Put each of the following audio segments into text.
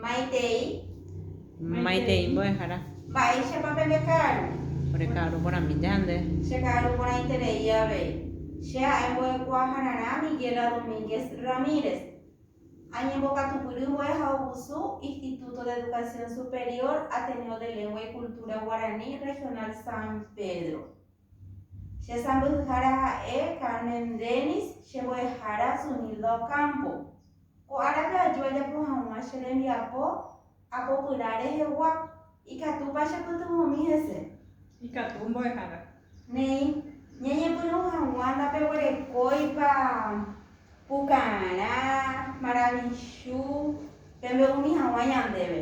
Maitei. Maitei mbo'ehára. Mba'éichapa pende ka'aru. Ore ka'aru porãmi jande. Che ka'aru porãiterei avei. Che ha'e mbo'ekuaahararã Miguela Domínguez Ramírez. Añembokatupyry vue ha ogusu Instituto de Educación Superior Ateneo de Lengua y Cultura Guaraní Regional San Pedro. Che sãmbyhyhára ha'e Carmen Dennis, che mbo'ehára Zunilda Ocampo. Ko árape aju ajapo hag̃ua che rembiapo apopyrã rehegua. Ikatúpa chepytyvõmi hese? Ikatu, mbo'ehára. Néi, ñañepyrũ hag̃ua ndapeguerekóipa pukarã, maravichu, pembe'umi hag̃ua ñandéve.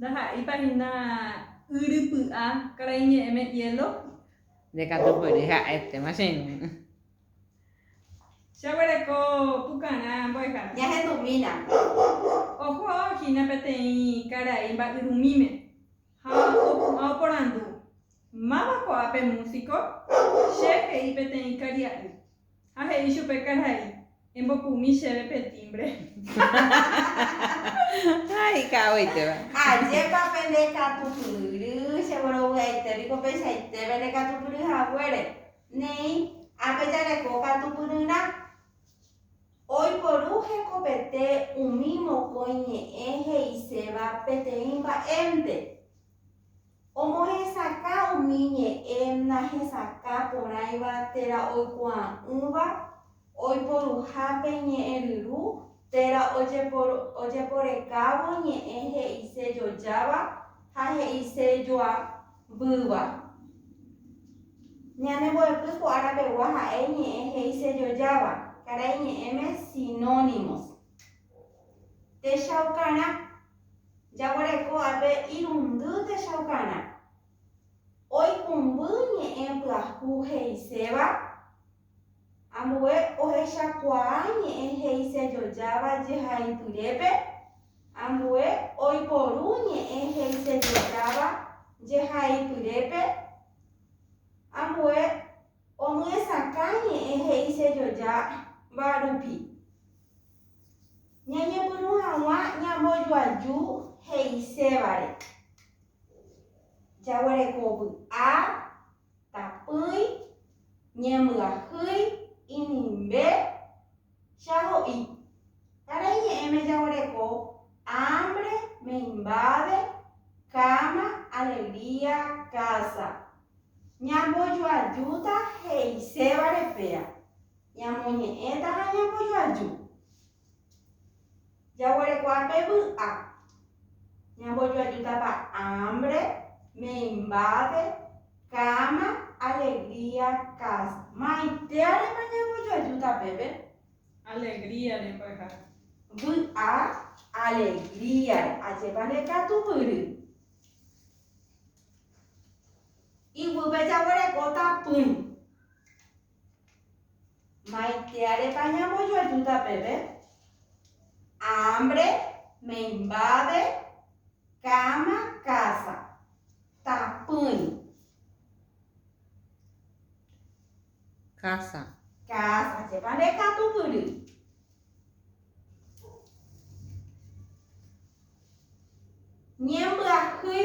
Ndaha'éipa hína yrypy'a karai ñe'ẽme hielo. Nde katu pory ha'étema che irũ. Jaguereko pukarã mbo'ehára. Jahendumína. Oho hína peteĩ karai mba'yrumíme ha opu'ã oporandu. Máva ko'ã pe músiko? Che he'i peteĩ karia'y. Ha he'i chupe karai, Embopumi chéve pe tímbre. Ha ika'agueitéva. Ajépa pende katupyry, che vorovy'aite piko peichaite pende katupyry haguére. Neĩ, ha pejareko katupyryrã. Oiporu hekopete umi mokõi ñe'ẽ he'iséva peteĩ mba'énte. Omohesakã umi ñe'ẽ nahesakã porãiva térã oikuaa'ỹva oiporuhápe ñe'ẽryru térã ojeporekávo ñe'ẽ he'ise jojáva ha he'ise joavýva. Ñane mbo'epy ko ára pegua ha'e ñe'ẽ he'ise jojáva, karai ñe'ẽme sinónimos. Techaukarã. Jaguereko ápe irundy techaukarã. Oikũmby ñe'ẽ pyahu he'iséva ambue ohechakuaa ñe'ẽ he'isejojáva jehaipyrépe ambue oiporu ñe'ẽ he'isejojáva jehaipyrépe ambue omyesakã ñe'ẽ he'isejojáva rupi. Ñañepyrũ hag̃ua ñambojoaju he'isévare. Jaguereko vy'a, tapỹi, ñembyahýi, inimbe, cha ho'i. Karai ñe'ẽme jaguereko ámbre, meimbáve, káma, alegría, kása. Ñambojoajúta he'isévare péa. Ñamoñe'ẽta ha ñambojoaju. Jaguerekuaa pe vy'a. Ñambojoajútapa ámbre, meimbápe, káma, alegría, kása. Maitéarepa ñambojoajúta pépe? Alegríarepa ha. Vy'a, alegríare. Ajépa nde katu vyry. Iguýpe jaguerekóta pỹi. Maitĩarepa ñambojoajúta peve? Ámbre, meimbabe, káma, kása, tapỹi. Kása. Kása, chépa nde katugury. Ñembyahýi.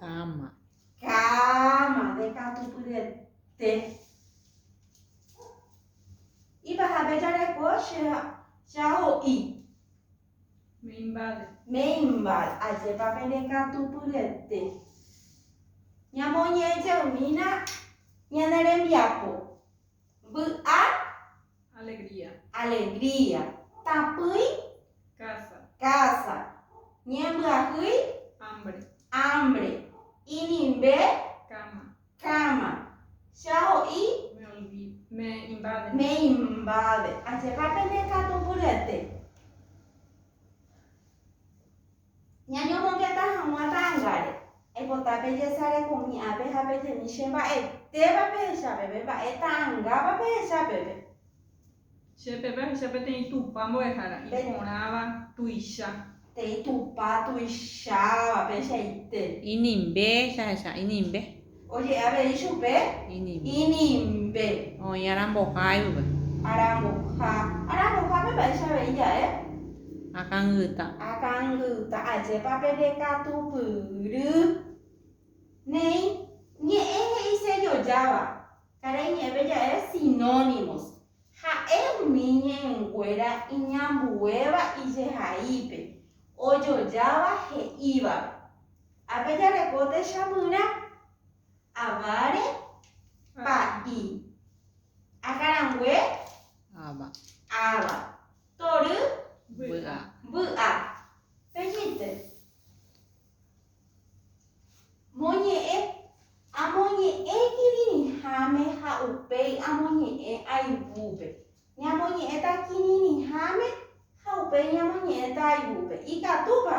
Káma. Káma, ndekatupyryete. Ipahápe jareko che, chaho'i. Meimbae. Meimbae, ajépa pendekatupyryete. Ñamoñe'ẽjeymína ñane rembiapo. Vy'a. Alegría. Alegría. Tapỹi. Casa. Casa. Ñembyahýi. Hambre. Hambre. Inimbe. Cama. Cama. Che aho'i. Me olvido. Me invade. Me invade. Ajépa pene katu mbyryete. Ñañomongeta hag̃ua ta'angáre. Aipota pejesareko umi ápe ha pejemi che mba'etéva pehecha peve, mba'e ta'angáva pehecha peve. Che peve ahecha peteĩ Tupã mbo'ehára, iporãva, tuicha. Peteĩ Tupã tuicháva, peichaite. Inimbe, jahecha inimbe. Oje'e avei chupe inimbe. Oĩ aramboha yve. Aramboha. Arambohápe mba'éicha avei ja'e? Akãngyta. Akãngyta. Ajépa pende katupyry. Néi ñe'ẽ he'i sellojáva. Karai ñe'ẽpe ja'e sinónimos. Ha'e umi ñe'ẽnguéra iñambuéva ijehaípe, ojojáva he'ívape. Ha pejareko techamyrã avare pa'i. Ha karãngue áva. Áva. Tory vy'a. Vy'a. Pejite. Moñe'ẽ. Amoñe'ẽ kirirĩháme ha upéi amoñe'ẽ aivúpe. Ñamoñe'ẽta kirirĩháme ha upéi ñamoñe'ẽta aivúpe. Ikatúpa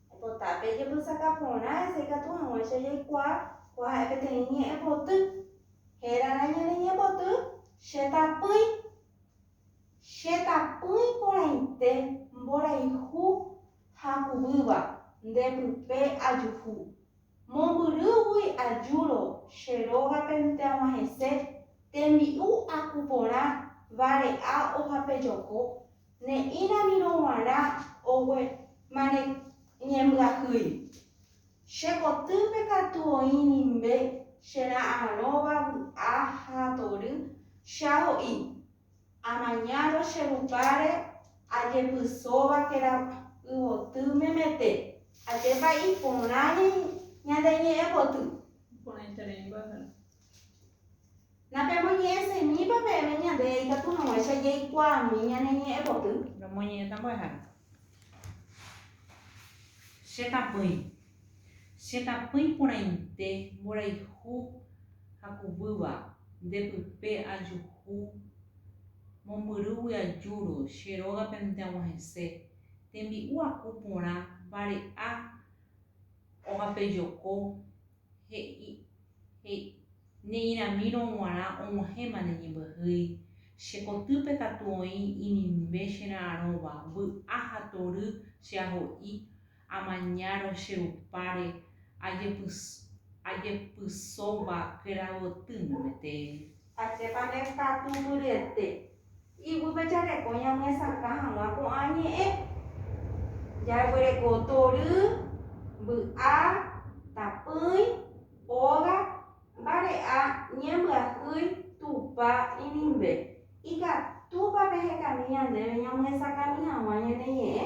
Opota pe jembysaka porã hese ikatu hag̃uáicha jaikuaa ko ha'e peteĩ ñe'ẽpoty. Hérarã ñane ñe'ẽpoty che tapỹi. Che tapỹi porãite mborayhu ha kuvýva nde pype ajuhu. Mombyrýgui ajúro che rógapente ag̃uahẽse tembi'u aku porã vare'a ohapejoko Ne'írãmirõ g̃uarã ogue mane ñembyahýi. Che kotýpe katu oĩ nimbe che ra'arõva vy'a ha tory, che aho'i. Amañárõ che rupáre ajepysóva térã yvoty memete. Ajépa iporã ñañe'ẽmboty. Iporãiterei mbyahýi. Napemoñe'ẽseñýipa peẽme ñande ikatu hag̃uáicha jaikuaami ñane ñe'ẽ poty. Nomoñe'ẽta mbo'ehára. Che tapỹi. Che tapỹi porãite mborayhu ha kuvýva, nde pype ajuhu mombyrýgui ajúro che rógapente ag̃uahẽse, tembi'u aku porã vare'a ogapejoko He'i, he'i, Ne'ĩramírõ g̃uarã og̃uahẽma ne ñembyahýi, che kotýpe katu oĩ inimbe che ra'arõva, vy'a ha tory che aho'i, amañárõ che rupáre, ajepysóva kuéra gotýngo metéri. Ajépa ne katu mbyryete. Iguýpe jareko ñamyesakã hag̃ua ko'ã ñe'ẽ. Jaguereko tory, mby'a, tapỹi, óga, mbare'a, ñembyahýi, tupa, inimbe. Ikatúpa pehekami ñandéve ñamyesakãmi hag̃ua ñane ñe'ẽ?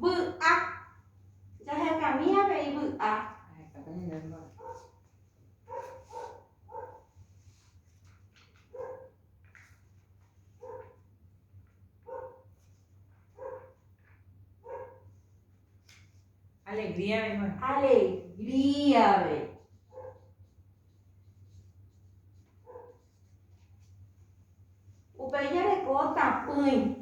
Vy'a. Jahekami avei vy'a. Alegría avei. Alegría avei. Upéi jareko tapỹi.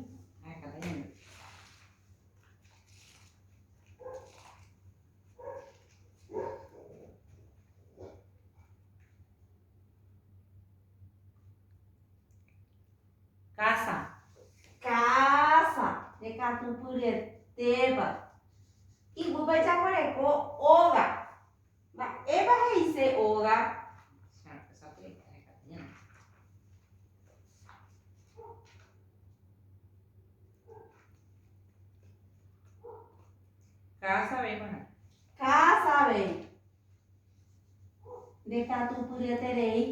Kása. Kása. Rekatupyryetépa. Iguýpe jaguereko óga. Mba'épa he'ise óga? Káda sabe g̃uarã. Káda sabe. Ndekatupyryeterei.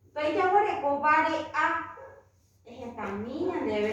Upéi jaguereko vare'a. Ehekami ñandéve.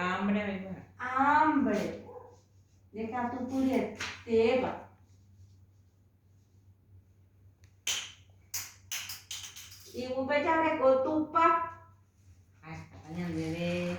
Ámbre avei mbo'ehára. Ámbre. Ndekatupyryetéva. Igupe jareko tupa. Ha'étapa ñandéve.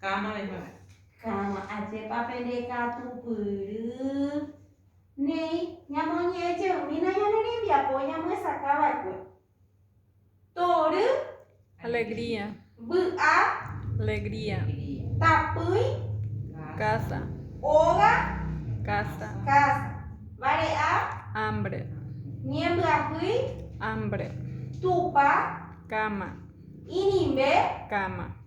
Káma reikuaa. Káma, ajépa pende katupyry. Néi, ñamoñe'ẽ jeymína ñane rembiapo ñamyesakã va'ekue. Tory. Alegría. Vy'a. Alegría. Tapỹi. Casa. Óga. Casa. Casa. Vare'a. Hambre. Ñembyahýi. Hambre. Tupa. Káma. Inimbe. Káma.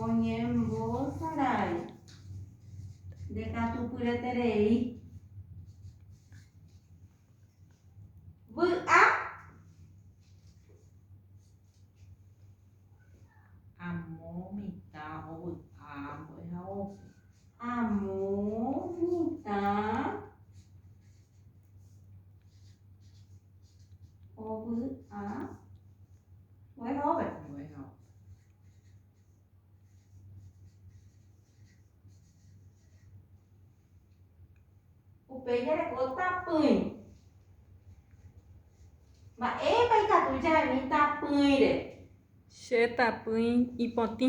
Oñembosarai ndekatupyreterei. Vy'a. Amo mitã ovy'a mbo'ehaópe. Amo mitã Ovy'a ohejápe. Ohejápe. Upéi jareko tapỹi. Mba'épa ikatu jaimi tapỹire? Che tapỹi ipotĩ.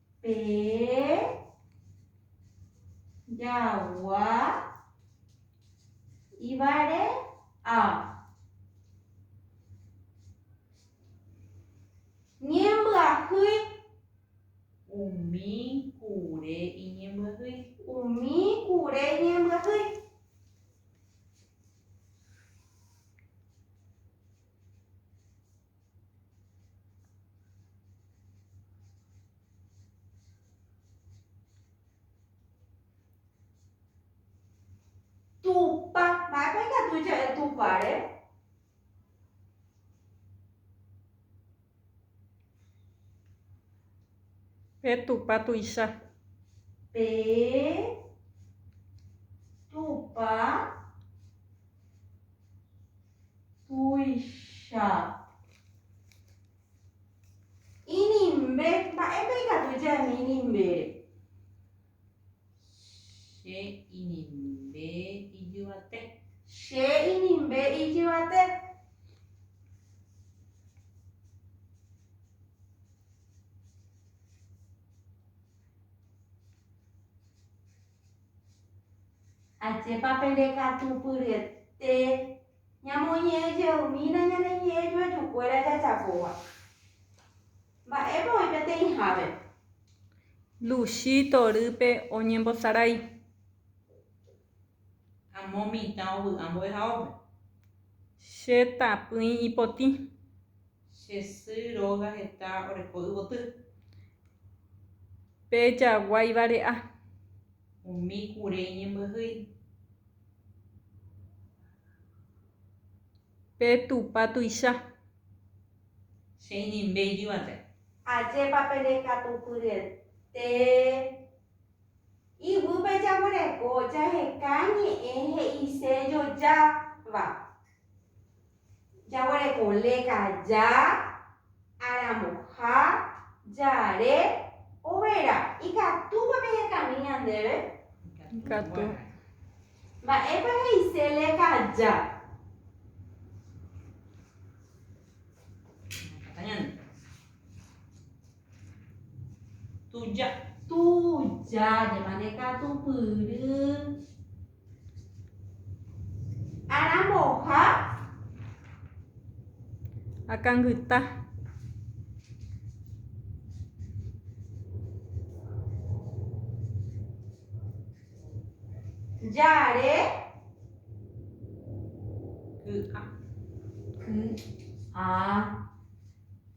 Pe jagua ivare a. Ñembyahýi. Umi kure iñembyahýi. Umi kure iñembyahýi. Tupa, mba'épa ikatu ja'e tupare? Pe tupa tuicha. Pe tupa Tuicha. Inimbe. Mba'épa ikatu jaimi inimbére? Che inimbe ijyvate. Che inimbe ijyvate. Ajépa pendekatupyryete ñamoñe'ẽ jeymína ñane ñe'ẽ joajukuéra jajapóva. Mba'épa oĩ peteĩhápe? Luchi torýpe oñembosarái. Amo mitã ovy'a mbo'ehaópe. Che tapỹi ipotĩ. Che sy róga heta oreko yvoty. Pe jagua ivare'a. Umi kure iñembyahýi. Pe Tupã tuicha. Che inimbe ijyvãte. Ajépa pene katu pyryete iguýpe jaguereko jaheka ñe'ẽ he'ise jojáva. Jaguereko leka ja, aramboha, jare, overa. Ikatúpa pehekami ñandéve? Ikatu. Mba'épa he'ise leka ja? Ñaikatuta ñande. Tuja. Tuja, jemane katupyry. Aramboha. Akangyta. Jare. Ky'a. Ky'a.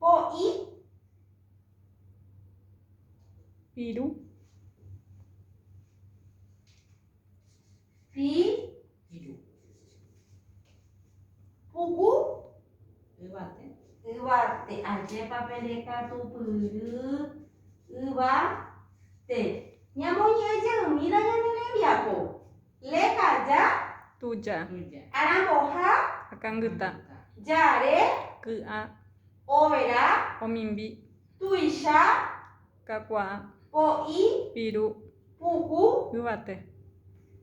Po'i. Piru. Pi. Piru. Puku. Yvate. Yvate. Ajépa pe rekatu pyry. Yvate. Ñamoñe'ẽ jeymína ñane rembiapo. Lejaja. Tuja. Aramboha. Akangyta. Jare. Ky'a. Overa. Omimbi. Tuicha. Kakuaa. Po'i. Piru. Puku. Yvate.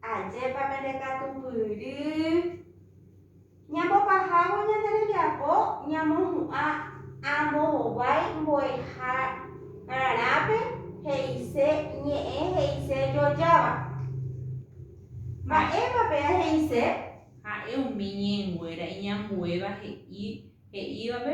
Ajépa pende katupyry. Ñambopahávo ñande rembiapo ñamohu'ã ambovovái mbo'ehárarápe he'ise ñe'ẽ he'ise jojáva. Mba'épa péa he'ise? Ha'e umi ñe'ẽnguéra iñambuéva he'i he'ívape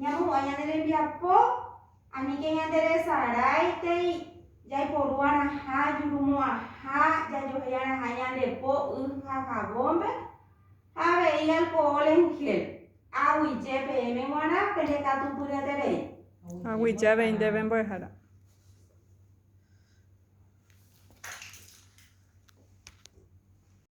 Ñamohu'ã ñane rembiapo, aníke ñanderesarãitei jaiporuarãha, jurumo'ãha, jajohéiarãha ñande po, y ha javónpe, ha avei alkohol en gel. Aguyje peẽme g̃uarã pende katu pyreterei. Aguyje avei ndéve mbo'ehára.